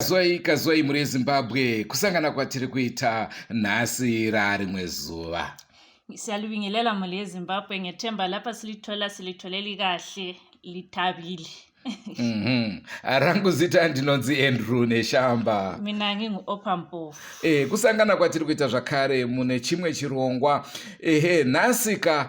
kazwai kazwai mhuri yezimbabwe kusangana kwatiri kuita nhasi raarimwe zuva siyalibingelela mhuli yezimbabwe ngethemba lapha silithola silitholeli kahle lithabile mhm. ah, rangu zita ndinonzi andrew neshamba mina ngingu-opa mpofu e, eh, kusangana kwatiri kuita zvakare mune chimwe chirongwa ehe nhasika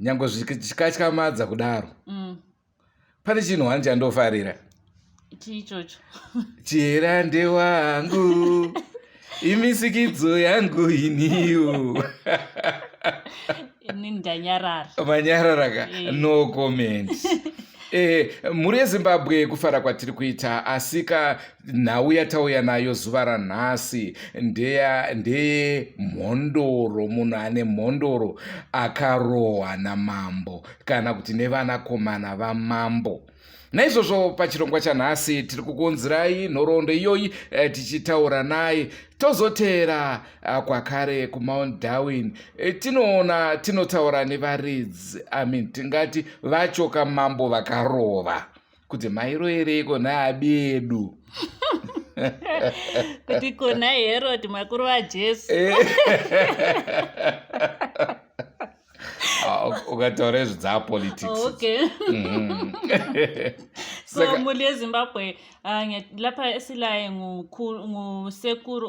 nyange zvikatyamadza kudaro mm. pane chinhu wani chandofarira chii ichocho chihera ndewangu imisikidzo yangu iniwo ini ndanyarara manyararaka eh. no comment eh, mhuri yezimbabwe kufara kwatiri kuita asika nhau yatauya nayo zuva ranhasi ndeya ndeye mhondoro munhu ane mhondoro akarohwa namambo kana kuti nevanakomana vamambo naizvozvo pachirongwa chanhasi tiri kukunzirai nhoroondo iyoyi eh, tichitaura naye tozoteera eh, kwakare kumount darwin eh, tinoona tinotaura nevaridzi amin tingati vachoka mambo vakarova kuti mairoyereiko naabedu kuti kona herod makuru vajesu eh. ah, ukataura izvi dzaapoliticsmuli yezimbabwe lapha esilaye ngusekuru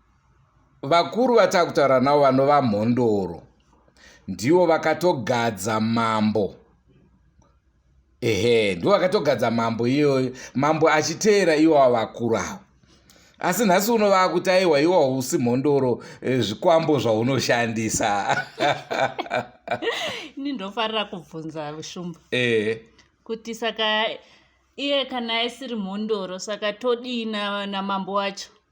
vakuru vatakutaura navo vanova mhondoro ndivo vakatogadza mambo ehe ndivo vakatogadza mambo iyoyo mambo achiteera iwawa vakuru avo asi nhasi uno vakuti aiwa iwawa usi mhondoro eh, zvikwambo zvaunoshandisa ini ndofarira kubvunza shumba ehe kuti saka iye kana asiri mhondoro saka todii namambo wacho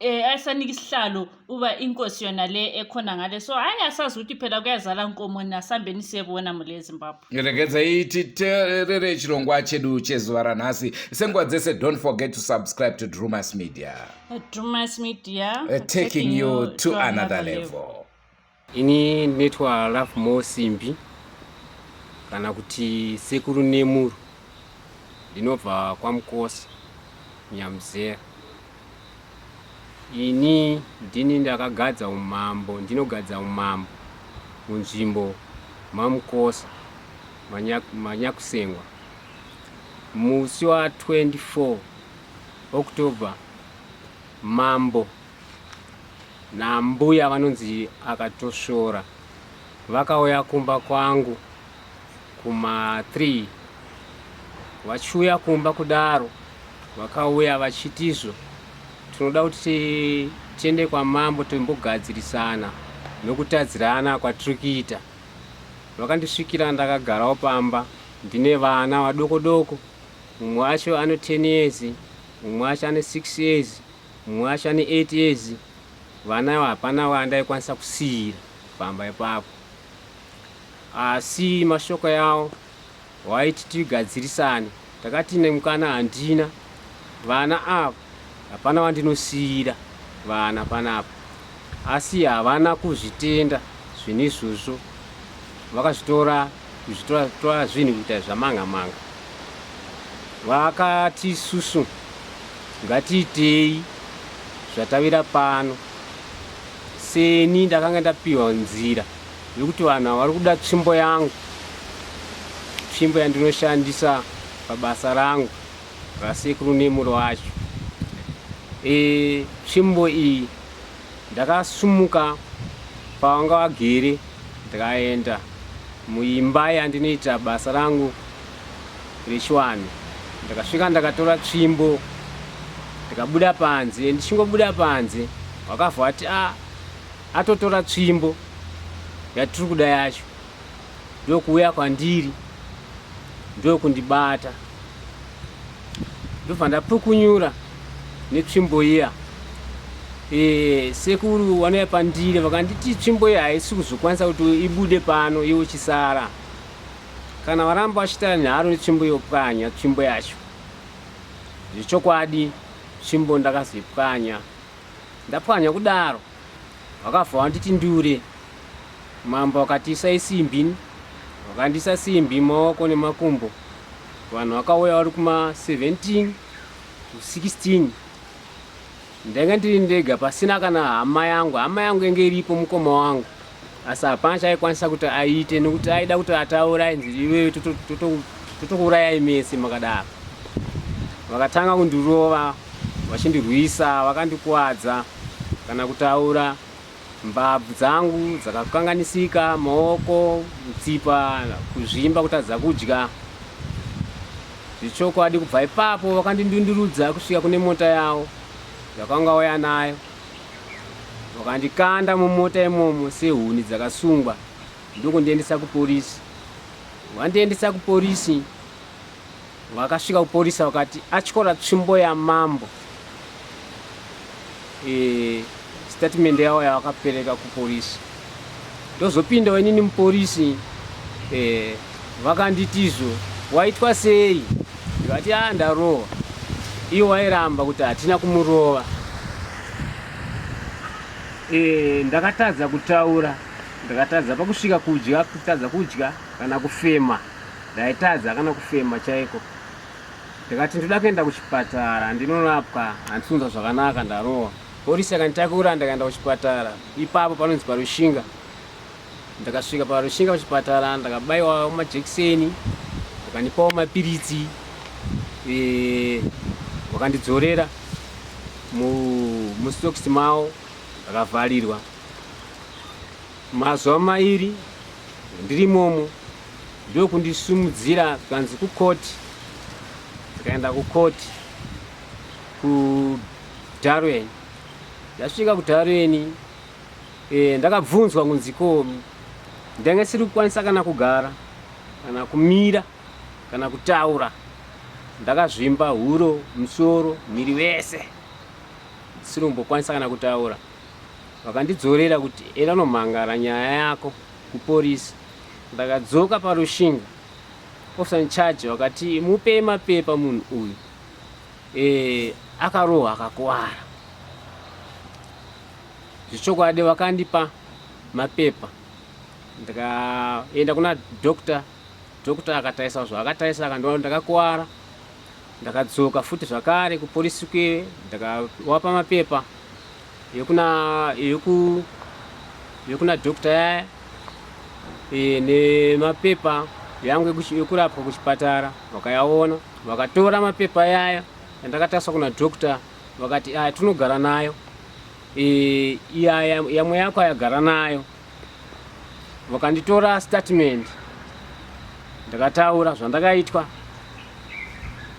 eh ayisanika isihlalo uba inkosi yona le ekhona ngale so hayi asazi ukuthi phela kuyazala nkomo nasambeni siyebona mule ezimbabwe ngiregedza iti terere chirongwa chedu chezuva ranhasi senguva dzese don't forget to subscribe to drumas media drumas media uh, taking you to another level, level. Ini ndinoitwa Love More Simbi kana kuti Sekuru Nemuru, ndinobva kwaMukosi Nyamuzera. Ini ndini ndakagadza umambo, ndinogadza umambo munzvimbo maMukosi Manyakusengwa musi wa 24 October Mambo naambuya vanonzi akatosvora vakauya kumba kwangu kuma 3 vachiuya kumba kudaro vakauya vachitizvo tinoda kuti tiende kwamambo timbogadzirisana nokutadzirana kwatiri kuita vakandisvikira ndakagarawo pamba ndine vana vadoko doko mumwe wacho ano 10 years mumwe wacho ane six years mumwe wacho ane eight years vana ava hapana vandaikwanisa kusiira pamba ipapo asi mashoko yawo waiti tigadzirisane takati nemukana handina vana ava hapana vandinosiyira vana panapa asi havana kuzvitenda zvinhu izvozvo vakazvitora kuzvitora zvinhu kuita zvamanga manga vakati isusu ngatiitei zvatavira pano seni ndakanga ndapiwa nzira yekuti vanhu havari kuda tsvimbo yangu tsvimbo yandinoshandisa pabasa rangu rasekuru nemuro wacho e, tsvimbo iyi Ndakasumuka pavanga vagere ndikaenda muimba yandinoita basa rangu rechiwanhu ndakasvika ndakatora tsvimbo ndikabuda panze ndichingobuda panze wakabva ati a ah, atotora tsvimbo yatiri kuda yacho ndokuuya kwandiri ndokundibata ndobva ndapukunyura netsvimbo iya e, sekuru wanouya pandiri vakanditi tsvimbo iya haisi kuzokwanisa kuti ibude pano iwo chisara kana varamba vachita nharo netsvimbo yopwanya tsvimbo yacho zvechokwadi tsvimbo ndakazoipwanya ndapwanya kudaro Vakabva vanditi ndure. Mambo akati isai simbi. Vakandisa simbi maoko nemakumbo. Vanhu vakauya vari kuma 17 to 16. Ndenge ndiri ndega pasina kana hama yangu. Hama yangu yenge iripo mukoma wangu. Asi hapana chaikwanisa kuti aite nekuti aida kuti ataura ainzi iwewe totokuurayai mese makadaro. Vakatanga kundirova vachindirwisa vakandikuwadza. kana kutaura mbabvu dzangu dzakakanganisika maoko mutsipa kuzvimba kutadza kudya zvechokwadi kubva ipapo vakandindundurudza kusvika kune mota yavo yakanga waya nayo vakandikanda mumota imomo sehuni dzakasungwa ndokundiendesa kuporisi vandiendesa kuporisi Vakasvika kuporisa vakati atyora tsvimbo yamambo. E, statement yavo yavakapereka kuporisi ndozopindawo inini muporisi e, vakanditizvo waitwa sei ndikati a ah, ndarohwa iwo wairamba kuti hatina kumurova e, ndakatadza kutaura ndakatadza pakusvika kudya kutadza kudya kana kufema Ndaitadza kana kufema chaiko ndikati ndoda kuenda kuchipatara ndinorapwa handisunza zvakanaka ndarowa polisi akanditakura ndakaenda kuchipatara ipapo panonzi parushinga ndakasvika parushinga kuchipatara ndakabaiwa majekiseni vakandipawo mapiritsi eh, vakandidzorera mustokisi mavo akavharirwa mazuva mairi ndiri momo ndokundisumudzira zvikanzi kukoti tikaenda kukoti kudarweni ndasvika kudarweni e, ndakabvunzwa kunzi ko ndanga siri kukwanisa kana kugara kana kumira kana kutaura ndakazvimba huro musoro miri wese ndisiri kumbokwanisa kana kutaura vakandidzorera kuti enda nomhangara nyaya yako kupolice ndakadzoka parushinga officer in charge wakati mupe mapepa munhu uyu e, akarohwa akakuwara zvechokwadi vakandipa mapepa ndikaenda kuna doctor doctor akatarisa zvaakatarisa akandiona ndakakuwara Ndakadzoka futi zvakare kupolisi kuye ndakawapa mapepa yekuna yeku yekuna doctor yaya e, nemapepa yangu yekurapwa kuchipatara vakayaona vakatora mapepa yaya andakataswa kuna doctor vakati aya tinogara nayo e, iyaya yamwe yako ayagara nayo vakanditora statement ndakataura zvandakaitwa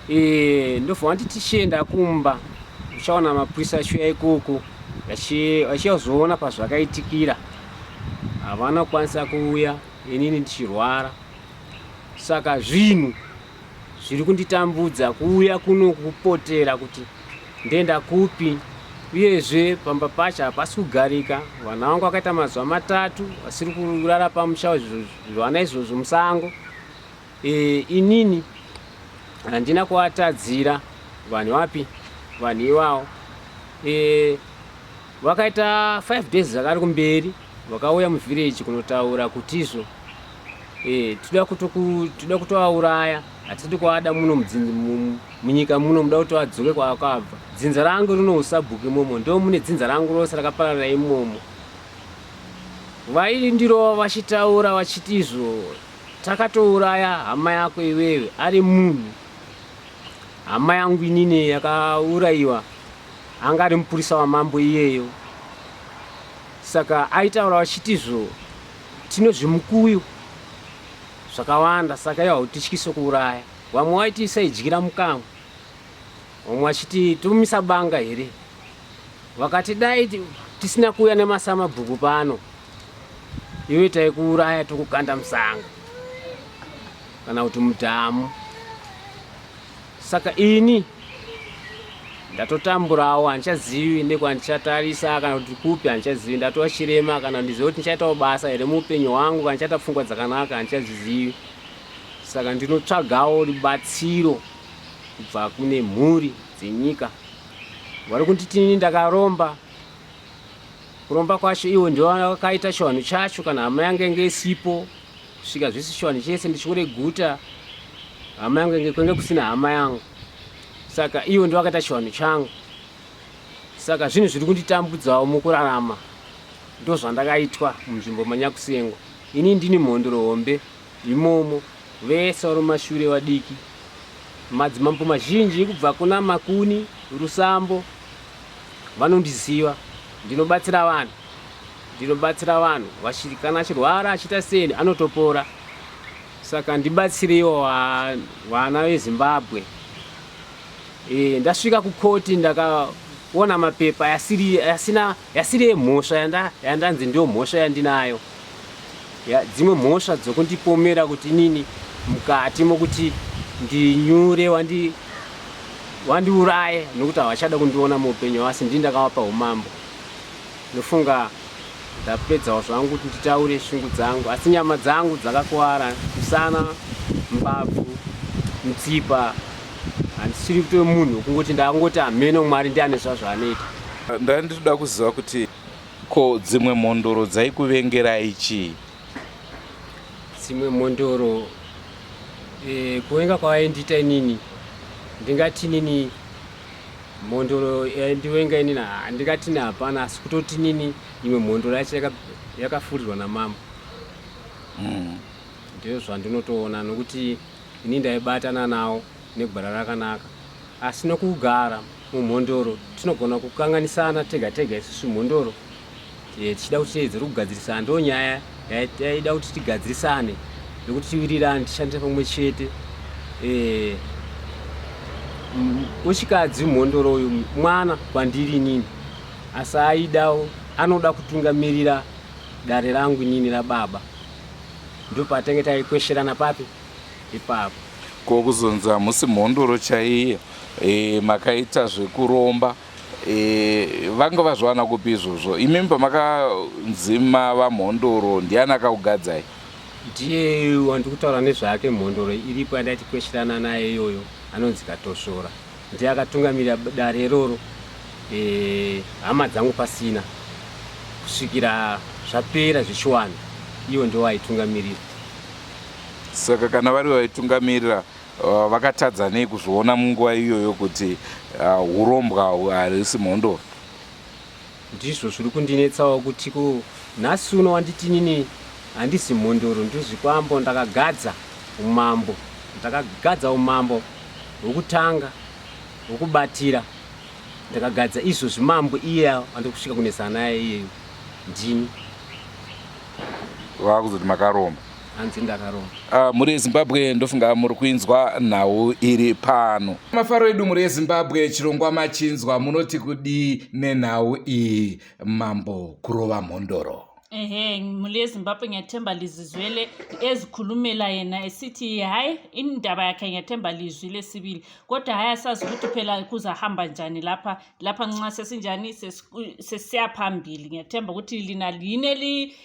eh, ndobva vandi tichienda kumba uchaona mapurisa achiuya ikoko achiyazoona pazvakaitikira havana kukwanisa kuuya inini ndichirwara saka zvinhu zviri kunditambudza kuuya kuno kupotera kuti ndenda kupi uyezve pamba pacho hapasi kugarika vana vangu vakaita mazuva matatu vasiri kurara pamusha zvivana izvozvo musango e, inini handina kuvatadzira vanhu vapi vanhu ivawo e, vakaita 5 days zvakari kumberi vakauya muvhireji kunotaura kuti izvo Eh, tida kutoku tida kutoauraya hatidi kuada muno mudzinzi mu- munyika muno muda kuti adzoke kwaakabva dzinza rangu rinousabhuku imomo ndo mune dzinza rangu rose rakapararira imomo vaindirova vachitaura vachiti izvo takatouraya hama yako iwewe ari munhu hama yangu inini yakaurayiwa anga ari mupurisa wamambo iyeyo saka aitaura vachiti izvo Tine zvimukuyu zvakawanda saka ivo hautityise kuuraya. Vamwe waiti isaidyira mukamwe, vamwe vachiti tomisa banga here. Vakati dai tisina kuuya nemasamabhuku pano, iwe taikuuraya tokukanda musanga kana kuti mudhamu. Saka ini ndatotamburawo handichazivi nekwandichatarisa kana kuti kupi handichazivi ndatova chirema kana ndizive kuti ndichaitawo basa here muupenyu hwangu kana ndichaita pfungwa dzakanaka handichazizivi saka ndinotsvagawo rubatsiro kubva kune mhuri dzenyika vari kunditini ndakaromba kuromba kwacho ivo ndivo vakaita chivanhu chacho kana hama yange inge isipo kusvika zvisishoni chese ndichiure guta hama yangu enge kwenge kusina hama yangu saka ivo ndovakaita chivanhu changu saka zvinhu zviri kunditambudzawo mukurarama ndozvandakaitwa munzvimbo manyakusengwa ini ndini mhondoro hombe imomo vese vari mumashure vadiki madzimambo mazhinji kubva kuna makuni rusambo vanondiziva ndinobatsira vanhu Ndinobatsira vanhu vachiri kana achirwara achiita seni anotopora saka ndibatsireiwo vana vezimbabwe e, ndasvika kukoti ndakaona mapepa yasiri yasina yasiri yemhosva yanda, yandanzi ndiyo mhosva yandinayo ya, dzimwe mhosva dzokundipomera kuti nini mukati mokuti ndinyure wandi wandiuraye nokuti havachada kundiona muupenyu asi ndii ndakavapa umambo Ndofunga ndapedzawo zvangu kuti nditaure shungu dzangu asi nyama dzangu dzakakuwara musana mbabvu mutsipa handisiri kutove munhu wekungoti ndakangoti hameno mwari ndiane zvazvaanoita ndanga nditoda kuziva kuti ko dzimwe mhondoro dzaikuvengerai chii dzimwe mhondoro e, kuvenga kwavaindiita inini ndingatinini mhondoro yaindivenga inini handingatini hapana asi kutoti nini imwe mhondoro yacho yakafurirwa namama hmm. ndizvo zvandinotoona nokuti ini ndaibatana nawo negwara rakanaka asi nokugara mumhondoro tinogona kukanganisana tega tega isusu mhondoro eh, tichida kuti tiedzere kugadzirisana ndo nyaya yaida kuti tigadzirisane nekuti tiwirirane tishandise pamwe chete eh, wechikadzi mhondoro uyu mwana kwandiri inini asi aidawo anoda kutungamirira dare rangu inini rababa ndo patange taikwesherana papi ipapo ko kuzonzi hamusi mhondoro chaiye e, makaita zvekuromba E, vanga vazviwana kupi izvozvo imimi pamakanzima vamhondoro ndiani akaugadzai ndiye wandi kutaura nezvake mhondoro iripo yandai tikweshirana naye iyoyo anonzi katosvora ndiye akatungamirira dare iroro e, hama dzangu pasina kusvikira zvapera zvichiwana ivo ndo vaitungamirira saka kana vari vaitungamirira Uh, vakatadza nei kuzviona munguva iyoyo kuti uh, urombwa uh, harisi mhondoro ndizvo zviri kundinetsawo kuti ku nhasi uno wanditinini handisi mhondoro ndozvikwambo ndakagadza umambo ndakagadza umambo hwekutanga hwekubatira ndakagadza izvo zvimambo iye andikusvika kunesana naye iyeyo ndini vakuzoti makaromba hanzi ndakaromba ah, mhuri yezimbabwe ndofunga muri kuinzwa nhau iri pano mafaro edu mhuri yezimbabwe chirongwa machinzwa munoti kudii nenhau iyi mambo kurova mhondoro ehe mhuri yezimbabwe nyatemba lizizwele ezikhulumela yena esithi hayi indaba yakhe nyatemba lizwi lesibili kodwa hayi asazi ukuthi phela kuzahamba njani lapha lapha nxa sesinjani sesiya phambili ngiyathemba ukuthi lina yini